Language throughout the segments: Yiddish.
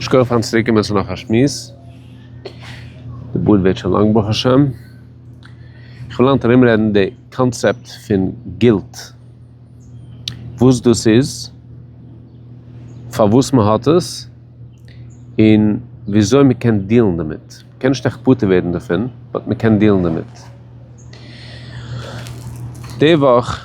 שקויעך פארן צוריק קומען צו נאך א שמועס, די בארד ווערט שוין לאנג ברוך השם, איך וויל היינט ארום רעדן די קאנצעפט פון גילט, וואס דאס איז, פארוואס מען האט עס, און וויאזוי מען קען דיעלן דערמיט, מען קען נישט עכט פטור ווערן דערפון, באט מען קען דיעלן דערמיט. די וואך.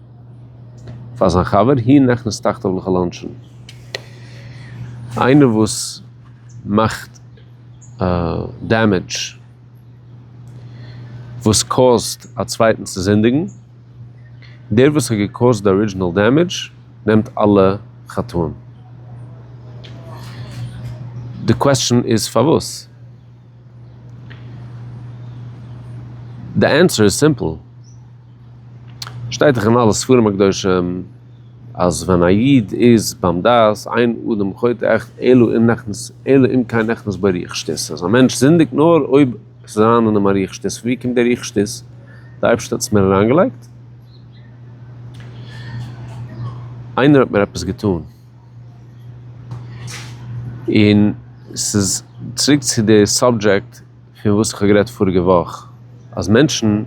פאר זיין חבר היא נכנס תחתיו לכל אנשין. איינער וואס מאכט דעמעדזש, וואס קאוזט א צווייטן צו זינדיגן, דער וואס האט געקאוזט די ארידזשינעל דעמעדזש נעמט אלע חטאים. די קוועסטשען איז פארוואס? די ענטפער איז סימפל. שטייט דאך אין אלע ספרים הקדושים אז ווען א איד איז ביים דעת אין אדם חוטא עכ אלא אם נכנס אלא אם כן נכנס בו ריח שטות. אז א מענטש זינדיגט נאר אויב ס'איז אריין אין אים א ריח שטות. פון ווי קומט דער ריח שטות? די אייבערשטער האט עס מיר אריינגעלייגט? איינער האט מיר עפעס געטאן? און ס'איז צוריק צו די סאבדזשעקט פון וואס איך האב גערעדט פאריגע וואך, אז מענטשן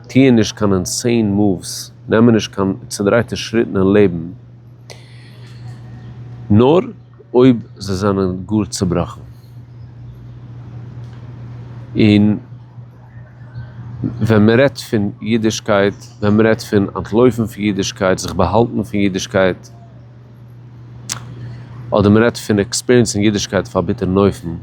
טוען נישט קיין אינסעין מאווס, נעמען נישט קיין צודרייטע שריטן אין לעבן, נאר אויב זיי זענען גאר צובראכן. און. ווען מען רעדט פון אידישקייט, ווען מען רעדט פון אנטלויפן פון אידישקייט, זיך באהאלטן פון אידישקייט, אדער מען רעדט פון עקספיריענסן אידישקייט אויף א ביטערן אופן,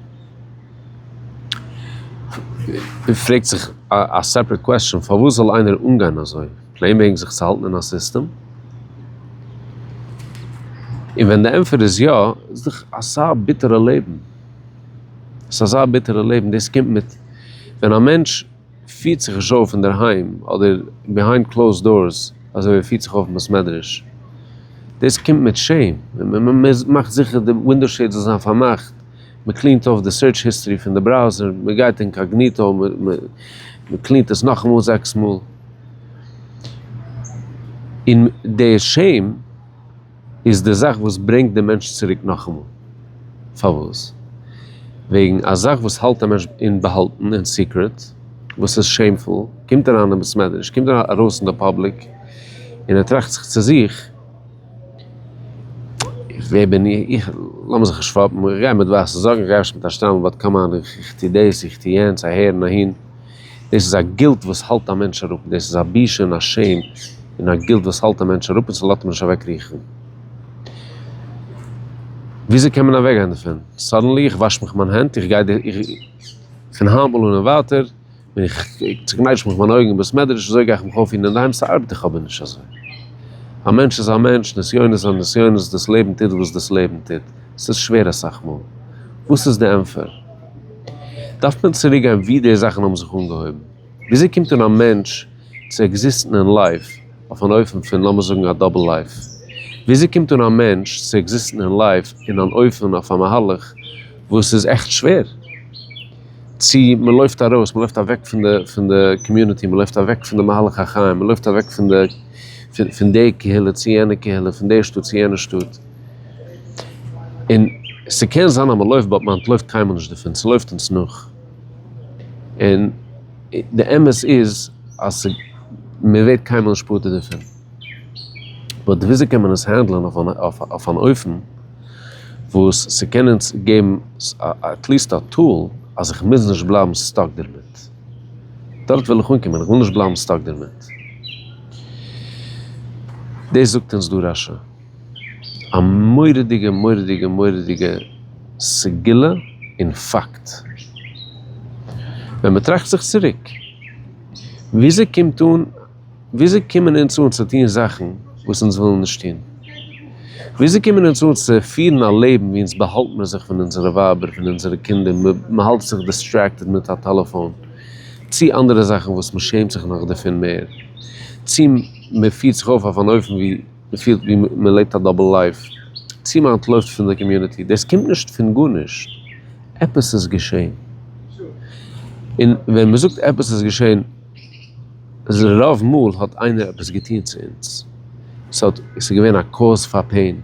פרעגט זיך א סעפערעט קוועסטשען, פארוואס זאל איינער אנגיין אזוי? פלעין וועגן זיך צו האלטן אין א סיסטעם? און ווען די ענטפער איז יא, איז דאך אסא ביטערע לעבן. ס'איז אזא ביטערע לעבן, דאס קומט מיט ווען א מענטש פירט זיך נישט אויף אינדערהיים אדער ביהיינד קלאוזד דארס אזוי ווי ער פירט זיך אויף אין בית מדרש, דאס קומט מיט שעם, מ'מאכט זיכער די ווינדאו שעיד זאל זיין פארמאכט, מ'קלינט אויף די סירטש היסטארי פון די בראוזער, מ'גייט אינקאגניטא, מ'קלינט עס נאכאמאל זעקס מאל, און דער שעם. איז די זאך וואס ברענגט די מענטש צוריק נאכאמאל. פארוואס? וועגן א זאך וואס האלט א מענטש אין באהאלטן אין סיקרעט, וואס איז שעימפול, קומט אריין אין בעסמעדרעש, קומט ארויס אין די פאבליק, און ער טראכט זיך צו זיך, ווער בין איך, לאמיר זיך נישט פאפן, איך גיי מיט ווייסע זאקן, איך גיי אפשר מיט א שטריימל באט קאם אן, איך טו דאס, איך טו יענץ, אהער און אהין. דאס איז א גילט וואס האלט א מענטש אראפ, דאס איז א בושה און א שעים און א גילט וואס האלט א מענטש אראפ און ס'לאזט מען נישט אוועק ריכטן. וויאזוי קען מען אוועקגיין דערפון? סאדענלי איך וואש מיך מיין הענט, איך גיי די, פון היינמאל אן און ווייטער ווען איך צוקנייטש מיך מיין אויגן אין בית מדרש אזוי גיי איך מיך אויפפירן אינדערהיים, ס'ארבעט דאך אבער נישט אזוי. א מענטש איז א מענטש, נסיונות זענען נסיונות, דאס לעבן טוט וואס דאס לעבן טוט. ס'איז שווער אסאך מאל. וואס איז די ענפער? דארף מען צוריק גיין ווי די זאכן האבן זיך אנגעהויבן, וויאזוי קומט אן א מענטש צו עקזיסטן אין לייף אויף אן אופן פון לאמיר זאגן א דאבל לייף, וויאזוי קומט אן א מענטש צו עקזיסטן אין לייף אין אן אופן אויף א מהלך וואס איז עכט שווער, צו מען לויפט ארויס, מען לויפט אוועק פון די קאמיוניטי, מען לויפט אוועק פון די מהלך החיים, מען לויפט אוועק פון די פון די קהילה צו יענע קהילה, פון די שטאט צו יענע שטאט. און ס'קען זיין אז מ'לויפט באט מען אנטלויפט קיינמאל נישט דערפון, ס'לויפט אונז נאך. און די אמת איז אז מ'ווערט קיינמאל נישט פטור דערפון. באט וויאזוי קען מען עס הענדלען אויף אן אופן וואס ס'קען אונז געבן עטליסט א טול אז איך מוז נישט בלייבן סטאק דערמיט. דארט וויל איך אנקומען, איך וויל נישט בלייבן סטאק דערמיט. דאס זאגט אונז דא רשי. א מורא'דיגע מורא'דיגע מורא'דיגע סגולה און פאקט. ווען מען טראכט זיך צוריק, וויאזוי קומט אן, וויאזוי קומען אונז אן צו טון זאכן וואס אונז ווילן נישט טון? וויאזוי קומען אונז אן צו פירן א לעבן ווי אונז באהאלט מיר זיך פון אונזערע ווייבער, פון אונזערע קינדער, מען האלט זיך דיסטרעקטעד מיט א טעלעפאון, צי אנדערע זאכן וואס מען שעמט זיך נאך דערפון מער, צי מען פירט זיך אויף אויף אן אופן ווי. מ'פילט ווי מען לעבט א דאבל לייף, צו מען אנטלויפט פון די קאמיוניטי, דאס קומט נישט פון גארנישט, עפעס איז געשען, און ווען מען זאגט עפעס איז געשען, רוב מאל האט איינער עפעס געטון צו אונז, ס'האט, ס'איז געווען א קאוז פאר פעין,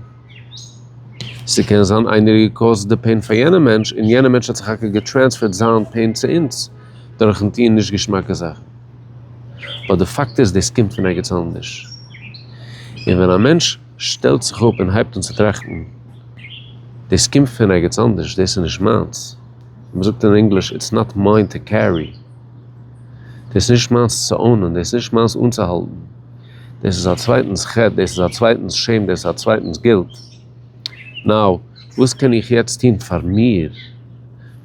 ס'קען זיין איינער האט געקאוזט די פעין פאר יענע מענטש, און יענע מענטש האט סך הכל געטרענספערט זיין פעין צו אונז, דורכן טון נישט געשמאקע זאכן. באט די פאקט איז דאס קומט פון ערגעץ אנדערש. און ווען א מענטש שטעלט זיך אפ און הייבט אן צו טראכטן, דאס קומט פון ערגעץ אנדערש, דאס איז נישט מיינס, ווי מען זאגט אין ענגליש, איטס נאט מיין טו קערי, דאס איז נישט מיינס צו אונען, דאס איז נישט מיינס אנצוהאלטן, דאס איז א צווייטנס חטא, דאס איז א צווייטנס שעים, דאס איז א צווייטנס גילט. נאו, וואס קען איך יעצט טון פאר מיר,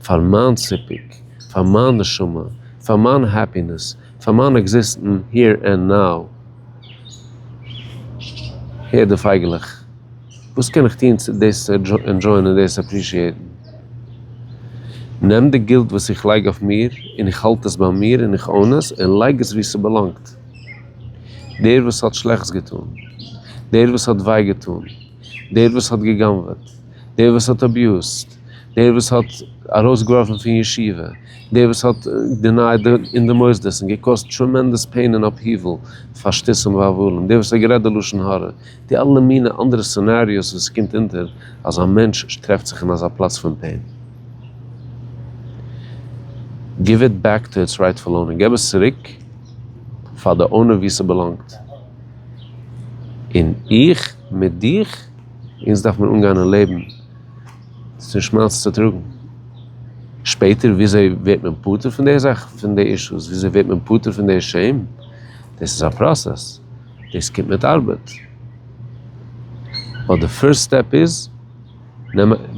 פאר מיין סיפוק, פאר מיין נשמה, פאר מיין העפינעס, פאר מיין עקזיסטן היער ענד נאו? הער די פייגעלעך, וואס קען איך טון צו דאס ענדזשויען און דאס עפרישיעיטן? נעם די גילט וואס איך לייג אויף מיר און איך האלט עס ביי מיר און איך און עס און לייג עס וואו ס'באלאנגט. דער וואס האט שלעכטס געטון, דער וואס האט וויי געטון, דער וואס האט גע'גנב'עט, דער וואס האט אביוזט, דער וואס האט ארויסגעווארפן פון ישיבה, דער וואס האט דענייעט אין די מוסדות און געקאזט טרעמענדעס פעין און אפהיעוול פאר שטותים והבלים, דער וואס האט גערעדט די לשון הרע, די אלע מיני אנדערע סינעריאוס וואס עס קומט אונטער אז א מענטש טרעפט זיך אין אזא פלאץ פון פעין. גיוו איט בעק טו איטס רייטפול אונער, געב עס צוריק. פאר די אונער ווי ס'באלאנגט, און איך מיט דיך, אונז דארף מען אנגיין אין לעבן צו שמעלץ צוטראגן, שפעטער וויאזוי ווערט מען פטור פון די זאך, פון די אישוס, וויאזוי ווערט מען פטור פון די שעים, דאס איז א פראסעס, דאס קומט מיט ארבעט, באט די פירסט סטעפ איז,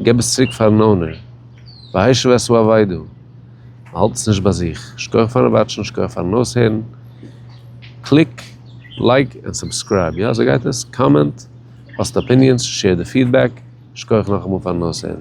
געב עס צוריק פארן אונער, והישב את אוהביו. מ'האלט עס נישט ביי זיך. שקויעך פארן וואטשן, שקויעך פארן אויסהערן. קליק לייק ענד סובסקרייב, יא אזוי גייט עס, קאמענט, פאסט אפיניענס, שעיר די פידבעק, שקויעך נאכאמאל פארן אויסהערן.